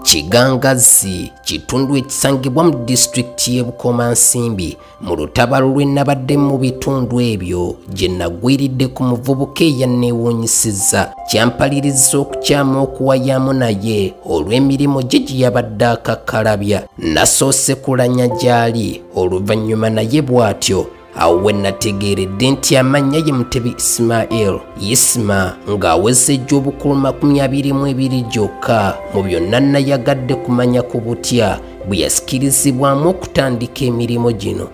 Kigangazzi kitundu ekisangibwa mu disitulikiti y'e Bukomansimbi mu lutabaalo lwe nabadde mu bitundu ebyo gye nagwiridde ku muvubuka eyanneewuunyisizza kyampaliriza okukyama okuwayaamu naye olw'emirimu gye gye yabadde akakkalabya nasoose kulanya gy'ali oluvannyuma naye bw'atyo awo we nategeeredde nti amannya ye mutebi isimael yisima ng'aweza egy'obukulu makumi abiri mu ebiri gyokka mu byonna nayagadde kumanya ku butya bwe yasikirizibwamu okutandika emirimu gino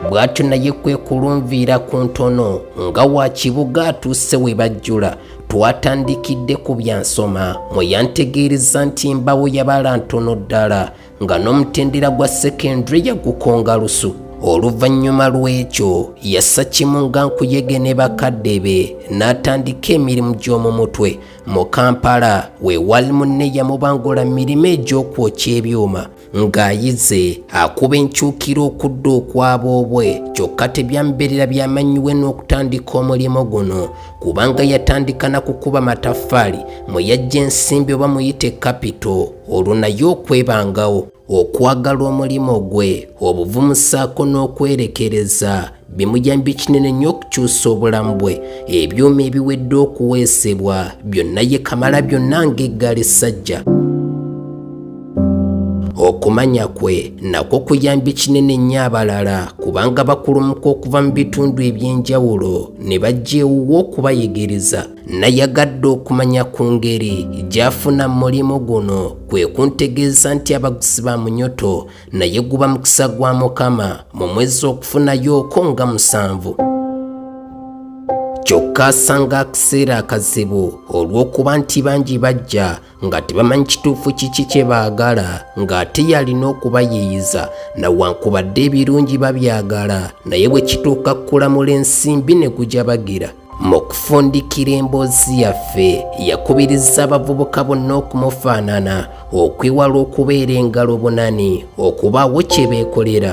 bw'atyo naye kwe kulunviira ku ntono nga wa kibuga atuuse we bajjula twatandikidde ku byansoma mwe yantegeereza nti mbawo yabala ntono ddala nga n'omutendera gwa secondary yagukonga lusu oluvannyuma lw'ekyo yassa kimu nga nkuyege ne bakadde be n'atandika emirimu gy'omu mutwe mu kampala we wali munne yamubangula mirimu egy'okwokya ebyuma ng'ayize akuba enkyukira okudda okwaba obwe kyokka tebyambeerera byamannyiwe n'okutandika omulimu guno kubanga yatandika na kukuba mataffaali mwe yajja ensimbi oba muyite kapito olwo naye okwebangawo okwagala omulimu gwe obuvumu ssaako n'okwerekereza bimuyambye kinene nnyo okukyusa obulamu bwe ebyuma ebiwedde okuweesebwa byonna ye kamala byonna ng'eggali ssajja okumanya kwe nakwo kuyambye kinene nnyo abalala kubanga bakulumuka okuva mu bitundu eby'enjawulo ne bajja ewuwo okubayigiriza nayagadde okumanya ku ngeri gy'afuna mu mulimu guno kwe kuntegeeza nti abaguzi ba munyoto naye guba mukisa gwa mukama mu mwezi okufunayo oko nga musanvu kyokka asanga akaseera akazibu olw'okuba nti bangi bajja nga tebamanyi kituufu kiki kye baagala ng'ate yalina okubayiiyiza nawankubadde ebirungi babyagala naye bwe kituuka kukulamula ensimbi ne gujabagira mu kufundikira emboozi yaffe yakubiriza abavubuka bonna okumufaanana okwewala okubeera engalo bunani okubaawo kye beekolera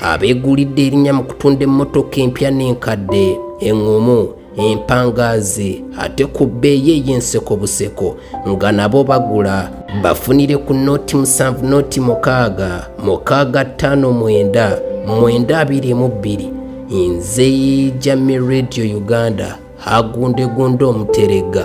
abeegulidde erinnya mu kutunda emmotoka empya n'enkadde eŋŋumu empangaazi ate ku bbeeyi ey'enseko buseko nga nabo bagula bafunire ku nooti musanvu nooti mukaaga mukaaga ttaano mwenda mwenda abiri mu bbiri nze jami radio uganda hagundegunde omuteregga